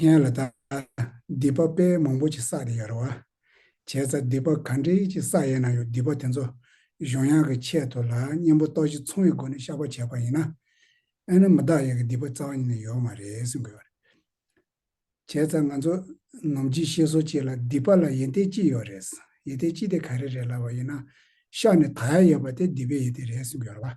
ངན་ལ་དག། སྡིག་པ་དཔེ་མང་པོ་ཅིག་བསགས་ཏེ་ཡར་བ། བྱས་ཙང་སྡིག་པ་ག་འདྲའི་ཅིག་བསགས་ཡས་ན་ཡང་སྡིག་པ་དེ་ཚོ་གཞུང་དབྱངས་ཀྱི་ཆེད་དུ་ལ་གཉེན་པོ་རྟོགས་བྱེད་མཚུངས་བའི་སྒོ་ནས་བཤགས་པ་བྱས་པ་ཡིན་ན། ཨེ་ན་མི་བདག་ཡག་གི་སྡིག་པ་རྩ་བ་ཉིད་ནས་ཡོད་མ་རེད་གསུང་དགོས་པ་རེད། བྱས་ཙང་ང་ཚོ་ནོམ་ཅིག་ཤེས་སོ་ཅིག་ལ་སྡིག་པ་ལ་ཡེ་ཏེ་ཅི་ཡོད་རེད། ཡེ་ཏེ་ཅི་དེ་ག་རེ་རེད་ལབ་པ་ཡིན་ན། བཤགས་ནས་དག་ཡས་ཡོད་པ་དེ་སྡིག་པའི་ཡེ་ཏེ་རེད་གསུང་དགོས་ཡར་བ།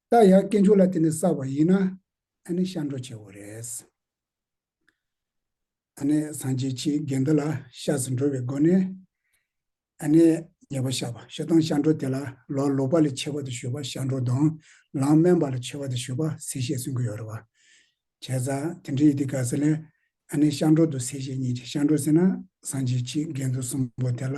རྟ་ཡག་སྐྱེ་མཆོག་ལ་དེ་ནས་བསགས་པ་ཡིན་ན་ཨ་ནི་ཤ་འགྲོ་ཆེ་བོ་རེད། ཨ་ནི་སངས་རྒྱས་ཆེ་གེ་འདི་ལ་ཤ་ཟི་འགྲོ་བའི་སྒོ་ནས་ཨ་ནི་ཉེས་པ་ཤ་བ་ཤ་དང་ཤ་འགྲོ་དེ་ལ་ལོག་ལོག་པ་ལས་ཆེ་བ་དུ་ཞུ་བ་ཤ་འགྲོ་དང་ལང་སྨན་པ་ལ་ཆེ་བ་དུ་ཞུ་བ་ཟི་ཞེས་གསུང་གི་ཡོད་རེད་བ། བྱས་ཙང་དེ་འདྲའི་ཡི་དེ་ག་ཟི་ལས་ཨ་ནི་ཤ་འགྲོ་དུ་ཟི་ཞེས་ཉེས་ཆེ་ཤ་འགྲོ་ཟེར་ན་སངས་རྒྱས་ཆེ་གེ་འདུ་གསུམ་པོ་དེ་ལ་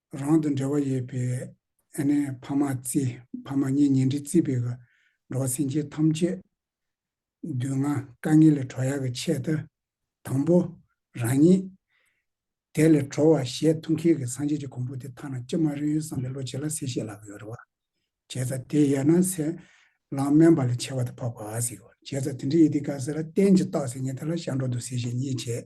རང་དང་འབྲེལ་བ་ཡོད་པའི་ཨ་ནེ་ཕ་མ་རྩིས་ཕ་མ་གཉེན་ཉེ་འབྲེལ་རྩིས་པའི་གི་འགྲོ་བ་སེམས་ཅན་ཐམས་ཅད། བདུད་ལྔ་དཀའ་ངལ་ལས་གྲོལ་ཡག་གི་ཆེད་དུ། དང་པོ། རང་ཉིད། དེ་ལས་གྲོལ་བ་ཞེས་ཐུགས་མཁྱེན་གྱི་སངས་རྒྱས་ཀྱི་གོང་བུ་དེ་ཐ་ན་ཅི་མ་རིག་ཡོད་བསམ་པའི་བློ་བྱས་ལ་སེ་ཤེས་ལག་གི་རེ་བ། བྱས་ཙང་དེ་ཡལ་ན་སེ། ལང་སྨན་པ་ལས་ཆེ་བ་དེ་འཕགས་པ་ཨ་སིག་བྱས་ཙང་དེ་འདྲའི་ཡི་དི་ག་སེ་ལ་གཏན་གྱི་རྟགས་སེ་ངེས་ཐ་ལ་ཤར་འགྲོ་འདུག་སེ་ཤེས་གཉིས་བྱས།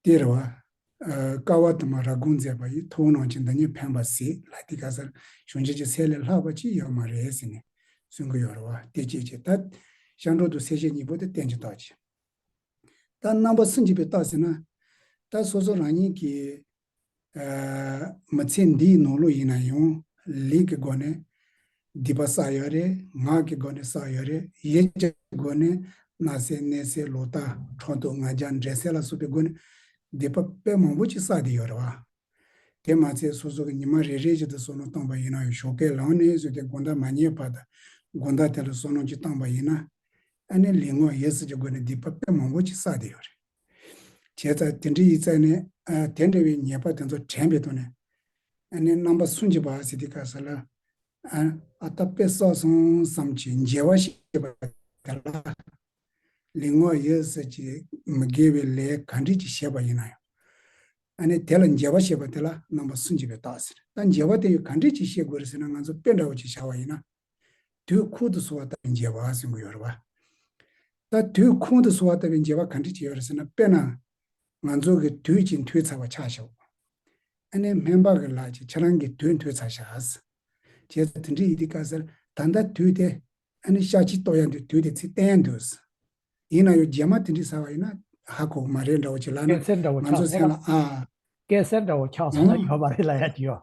སྟེར་བ། དཀའ་བ་དུ་མ་ར་སྒོང་མཛད་པ་ཡིས་ཐུགས་སྣང་ཅན་འདི་ཉིད་ཕན་པ་སྲིད་ལ་འདི་ག་སར་གཞུང་ཆེན་གྱི་ཚད་ལས་ལྷག་པ་ཅི་ཡོད་མ་རེད་ཟེར་ནས་གསུང་གི་ཡོད་རེད་བ་སྟེ་ཅེས་བྱས་ལྟ། ཤར་འགྲོ་དུ་སེར་བྱེས་གཉིས་པོ་དེ་བསྟན་ཅིང་རྟོགས་ཀྱི། ལྟ། རྣམ་པ་གསུམ་གྱིས་པའི་རྟགས་ཟེར་ན། ལྟ་སོ་སོ་རང་ཉིད་ཀྱིས། མི་ཚེ་འདིའི་ནང་ལོ་ཡིན་ན་ཡང། ལུས་ཀྱི་སྒོ་ནས་སྡིག་པ་བསགས་ཡོད་རེད། ངག་གི་སྒོ་ནས་བསགས་ཡོད་རེད། ཡིད་ཀྱི་སྒོ་ནས་མནའ་ཟེར་གནས་ཟེར་ལོ་ལྟ་གྲོགས་དུ་ང་རྒྱ་འདྲེ་ཟེར་ལ་སོགས་པའི་སྒོ་ནས་སྡིག་པ་དཔེ་མང་པོ་ཅིག་བསགས་བསྡད་ཡོད་རེད་བ། དེ་མ་ཚད་སོ་སོ་གི་ཉི་མ་རེ་རེ་བཞིན་དུ་སོ་ནོར་བཏང་པ་ཡིན་ན་ཡང་ཞོགས་པའི་ལམ་ནས་བཟོས་ཏེ་དགོན་བདག་མ་ཉེས་པ་དང་དགོན་བདག་དེ་ལ་སོ་ནོར་གྱིས་བཏང་པ་ཡིན་ན། ཨ་ནེ་ལིང་ངོ་ཡེ་སྲིད་ཀྱི་སྒོ་ནས་སྡིག་པ་དཔེ་མང་པོ་ཅིག་བསགས་བསྡད་ཡོད་རེད། བྱས་ཙང་དེ་འདྲ་ཡིས་བཙལ་ནས་དེ་འདྲ་བའི་ཉེས་པ་དེ་ཚོ་དྲན་པའི་ཐོག་ནས་ནི་རྣམ་པ་སུན་འབྱིན་པ་ཨ་སི་ཏི་ཀ་ཟེར་ལ། ཨ་ཏ་པེ་སོགས་སོང་ཙམ་གྱི་མཇལ་བ་ཞེས་པ་དེ་ལ་ལིང་ངོ་ཡོད་ཟེར་གྱི་མི་དགེ་བའི་ལས་ག་འདྲས་ཀྱི་བྱས་པ་ཡིན་ན་ཡང། དེ་ལ་མཇལ་བ་ཞེས་པ་དེ་ལ་རྣམ་པ་སུན་འབྱིན་པའི་རྟགས་ཟེར། ད་མཇལ་བ་དེ་ག་འདྲས་ཀྱིས་ཤེས་དགོས་རེད་ཟེར་ན་ང་ཚོ་དཔེ་འདྲ་བོ་ཅིག་བྱ་བ་ཡིན་ན་དུས་ཁོང་དུ་སོང་བ་ལྟ་བུའི་འཇལ་བ་ཟེར་དགོས་ཡོད་རེད་པ། ད་དུས་ཁོང་དུ་སོང་བ་ལྟ་བུའི་འཇལ་བ་ག་འདྲས་བྱས་ཡོད་རེད་ཟེར་ན་དཔེར་ན། ང་ཚོ་གི་དུས་ཀྱི་འཐུས་ཚར་བ་ཆགས་ཤོག། ཨ་ནེ་སྨན་པ་གི་ལགས་ཀྱི་ཁྱེད་རང་གི་དུས་འཐུས་ཚར་ཤགས། བྱས་ཙང་དེ་འདྲས་ཡིན་དུས་དཀའ་སར་ད་ལྟ་དུས་དེ། ཨ་ནེ་ཤག་ཅིག་རྟོགས་ཡ་འདུག་དུས་དེ་ཚིག་བསྟན་ཡ་འདུག། ཡིན་ན་ཡང་རྗེས་མ་དེ་འདྲས་ཟ་བ་ཡིན་ན་ཧ་གོ་མ་རེད་འདྲ་བོ་བྱེད་ལ་ན་ང་ཚོ་སེམས་ལ་ཨ། སྐད་སེར་འདྲ་བོ་ཆགས་སོང་ན་ཡོད་མ་རེད་ལ་ཡ་ཅི་ཡོད།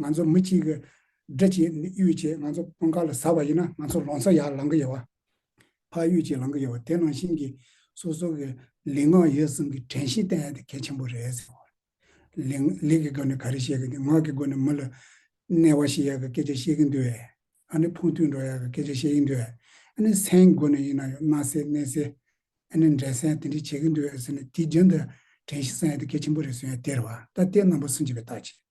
ང་ཚོ་མི་གཅིག་གིས་སྦྲིད་ཀྱི་གཡུལ་བཅས་ང་ཚོ་དཔུང་ཁག་ལ་ཟ་བ་ཡིན་ན་ང་ཚོ་ལོང་ས་ཡར་ལང་གི་ཡོད་བ། ཕ་གཡུལ་གྱིས་ལང་གི་ཡོད་བ་དེ་ནང་བཞིན་གྱི་སོ་སོ་གི་ལིང་ངག་ཡོད་གསུམ་གྱི་དྲན་ཤེས་བསྟན་ཡ་དེ་གལ་ཆེན་པོ་རེད་ཟེར་བ། ལིང་ལིག་གི་སྒོ་ནས་ག་རེ་བཤད་གི་འདུག་ངག་གི་སྒོ་ནས་མི་ལ་གནས་བ་ཞིག་ཡག་གི་སྐད་ཆ་བཤད་གི་འདུག་ཨེ། ཨ་ནི་ཕུང་ཐུང་འགྲོ་ཡག་གི་སྐད་ཆ་བཤད་ཀྱི་འདུག་ཨེ། ཨ་ནི་སེན་གྱི་སྒོ་ནས་ཡིན་ན་ཡང་མནའ་སེ་གནས་སེ། ཨ་ནི་འབྲས་སེན་དེ་འདྲས་བྱེད་ཀྱི་འདུག་ཨེ་ཟེར་ནས་དེ་རྒྱུན་དུ་དྲན་ཤེས་བསྲན་ཡ་དེ་གལ་ཆེན་པོ་རེད་གསུང་ཡ་དེ་རེད་བ། ད་ལྟའི་རྣམ་པ་སུ་འབྱེད་པའི་རྟགས་ཅི་རེད།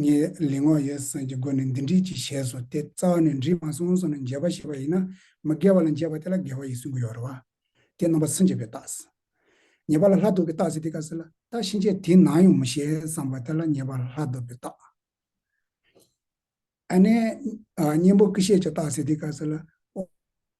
ངས་ལས་སྔགས་ཡོད་བསམ་གྱི་སྒོ་ནས་འདི་འགྲིག་ཅེས་བྱས་སོ་སྟེ་རྩ་བ་ནས་འདྲིས་མ་སོང་སོང་ནས་འཇལ་བར་བྱེད་པ་ཡིན་ན་མི་དགེ་བ་ལ་འཇལ་བ་དེ་ལ་དགེ་བ་ཡིས་སུན་དགུ་ཡོ་རོ། དེ་རྣམ་པ་སུན་འབྱེད་པའི་རྟགས་སུ། ཉེས་པ་ལ་ལྷ་བཟློག་པའི་རྟགས་སུ་དེ་ཀ་སེ་ལ་ཏཱ་ཕྱིན་ཆད་དེ་ནང་ཡོང་མི་ཤེས་བསམ་པ་དེ་ལ་ཉེས་པ་ལ་ལྷ་བཟློག་པའི་རྟགས། ཨ་ནེ། གཉེན་པོ་ཀི་ཤེས་ཀྱི་རྟགས་སེ་དེ་ཀ་སེ་ལ།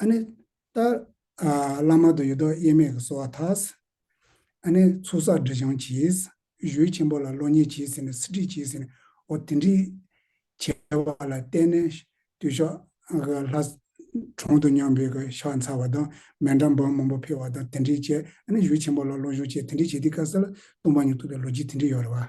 ཨ་ནི། རྟ། བླ་མ་དུ་ཡི་དོགས་དབྱེར་མེད་ཀྱི་གསོལ་བ་དག། ཨ་ནི། ཚུགས་བསགས་འབྲས་བྱུང་གྱིས། གཞུའི་ཆེན་པོ་ལ་བློ་ཉེས་བྱས་ཟིན་ནས་སྲིད་ཁྲིད་བྱས་ཟིན་འོ་དེ་འདྲི། བྱས་པ་ལ་བརྟེན་ནས་དུས་ཤོག། ལྷ། གྲོང་དུ་སྙོམས་པའི་ཕྱག་འཚལ་བ་དང་མལ་འགྲམ་བང་མང་པོ་འཕེལ་བ་དང་དེ་འདྲི་བྱས་ཨ་ནི་གཞུ་ཆེན་པོ་ལ་བློ་ཞུགས་བྱས་དེ་འདྲི་བྱས་དེ་ཀ་ས་ལ་ལྟུང་བ་ཉུང་ཐུབ་པའི་ལོ་རྒྱུས་དེ་འདྲི་ཡོད་རེད་བ།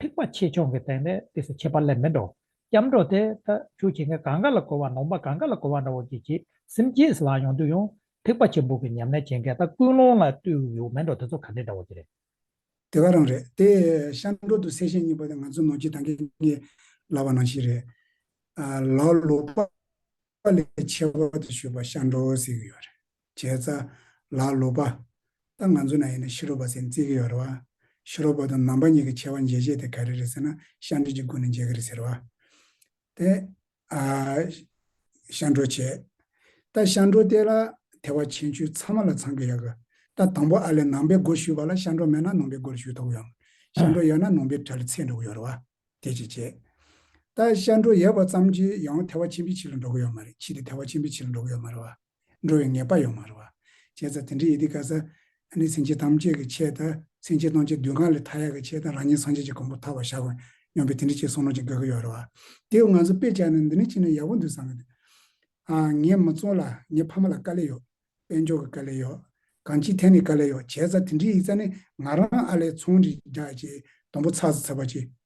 ཐེག་པ་ཆེ་ཆུང་གི་སྟེང་ནས་དེ་སུ་ཁྱད་པར་ལས་མི་འགྲོ། སྐྱབས་འགྲོ་དེ་ད་ཁྱོད་ཁྱེད་ངའི་གངྒཱ་ལ་གོ་བ་ནོངས་པ་གངྒཱ་ལ་གོ་བ་འདྲ་བོ་གྱིས་ཀྱིས་སེམས་བསྐྱེད་སུ་ལགས་ཡོང་དུས་ཡང་ཐེག་པ་ཆེན་པོ་གི་ཉམས་ལེན་བྱེད་མཁན་ད་ཀུན་སློང་ལ་བཏུལ་ཡོད་མི་འགྲོ་དེ་ཚོ་ག་འདྲས་འདྲ་བོ་གྱིས་རེད། དེ་ག་རང་རེད་དེ། ཤར་འགྲོ་དུ་སེ་ཤེས་གཉིས་པ་དེ་ང་ཚོ་ནོར་གྱི་དང་གིས་ངེས་ལབ་པ་ནང་ཞིག་རེད། ལ་ལོག་པ་ལས་ཆེ་བ་དུ་ཞུས་པ་ཤར་འགྲོ་ཟེར་གྱི་ཡོད་རེད། བྱས་ཙྪ། ལ་ལུ་པ། ད་ང་ཚོ་ན་ཡིན་ན་ཤི་རོ་པ་ཟེར་བརྩི་གི་ཡོད་རེད་བ། ཤི་རོ་པ་དང་ནང་པ་གཉིས་ཀྱི་ཆེ་བ་མཇལ་བྱེད་དེ་ག་རེ་རེད་ཟེར་ན་ཤ་འབྲི་གྱི་སྒོ་ནས་མཇལ་གི་རེད་ཟེར་བ། དེ། ཨ། ཤ་འགྲོ་བྱས། ད་ཤ་འགྲོ་བལྟས་ལ་དེ་བ་ཆེན་ཆུའི་ཚ་མ་ལ་ཚང་གི་ཡོད་གི། ད་དང་པོ་ཨ་ལས་ནང་པའི་སྒོ་ཞུས་བ་ལ་ཤ་འགྲོ་མེད་ན་ནང་པའི་སྒོར་ཞུས་ཐོག་ཡོང། ཤ་འགྲོ་ཡོད་ན་ནང་པའི་གྲལ་ཚེས་འགྲོ་གི་ཡོད་རེད་བ། དེ་བྱས་བྱས། ད་ཤ་འགྲོ་ཡོད་བ་ཙམ་གྱིས་ཡང་དེ་བ་ཆེན་པོའི་ཕྱི་ལ་འགྲོ་གི་ཡོད་མ་རེད་ཕྱིས་ཏེ་དེ་བ་ཆེན་པོའི་ཕྱི་ལ་འགྲོ་གི་ཡོད་མ་རེད་བ། འགྲོ་བའི་ངེས་པ་ཡོད་མ་རེད་བ། བྱས་ཙང་དེ་འདྲའི་ཡི་དེ་ག་ས་ནི་སེམས་ཅན་ཐམས་ཅད་ཀྱི་ཆེད་དང་སེམས་ཅན་སྣང་བྱེད་བདུན་གང་ལས་མཐའ་ཡས་ཀྱི་ཆེད་དང་རང་ཉིད་སངས་རྒྱས་ཀྱི་གོང་བུ་ཐར་བར་བྱ་དགོས་སྙམ་པའི་དེ་འདྲའི་ཆེད་གསུངས་ནོ་ཅིག་དགོས་ཀྱི་ཡོད་རེད་བ། དེའོ་ང་ཚོ་དཔེ་ཆ་ནི་འདི་ནས་ཅི་ནས་ཡག་པོ་འདུག་བསམ་གི་འདུག་ཨ། ངས་མི་ཚོ་ལ་ངའི་ཕ་མ་ལ་དཀའ་ལས་ཡོད། དཔལ་འབྱོར་གྱི་དཀའ་ལས་ཡོད། གང་ཅིའི་ཐད་ནས་དཀའ་ལས་ཡོད་བྱས་ཙང་དེ་འདྲའི་ཡིག་ཚ་ནི་ང་རང་ཨ་ལས་ཚོང་འདྲི་རྒྱག་ཅིག་དུམ་བུ་ཚགས་སུ་འཚལ་བ་ཅིག་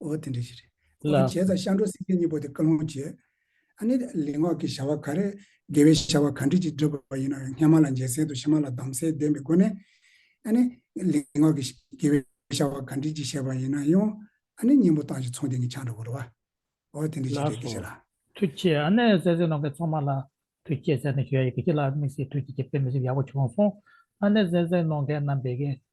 འོ་དེ་འདྲའི་ཞིག་རེད། ལ། ཨོ་བྱས་ཙང་ཤར་འགྲོ་སེམས་ཅན་གཉིས་པོ་དེ་བཀའ་ལུང་བྱས། ཨ་ནི་ལེགས་ངག་གི་བྱ་བ་ག་རེ། དགེ་བའི་བྱ་བ་ག་འདྲི་ཅིག་བསྒྲུབ་པ་ཡིན་ན་སྔ་མ་ལ་འཇལ་སའི་དུ་ཕྱི་མ་ལ་གདམ་སའི་བདེན་པའི་སྒོ་ནས། ཨ་ནི། ལེགས་ངག་གི། དགེ་བའི་བྱ་བ་ག་འདྲི་ཅིག་བྱས་པ་ཡིན་ན་ཡང། ཨ་ནི་སྙིང་པོ་བཏང་ཞིང་ཚོང་དེ་ཉིད་ཆགས་འགྲོ་བར་བ། འོ་དེ་འདྲའི་ལ་ཞིག་རེད་སོ། ཀྱེ་ལ། ཐུགས་ཆེ་ཨ་ནི་བཙལ་བཙལ་ནང་གི་ཚང་མ་ལ། ཐུགས་ཆེ་ཟེར་ནས་ཞུ་ཡ་ཡི་གེ་ཅི་ལ་དམིགས་སེ་ཐུགས་ཀྱི་ཀྱི་པེ་མི་སེམས་ཡག་པོ་བྱུང་སོང། ཨ་ནི་བཙལ་བཙལ་ནང་གི་རྣམ་པའི་གི།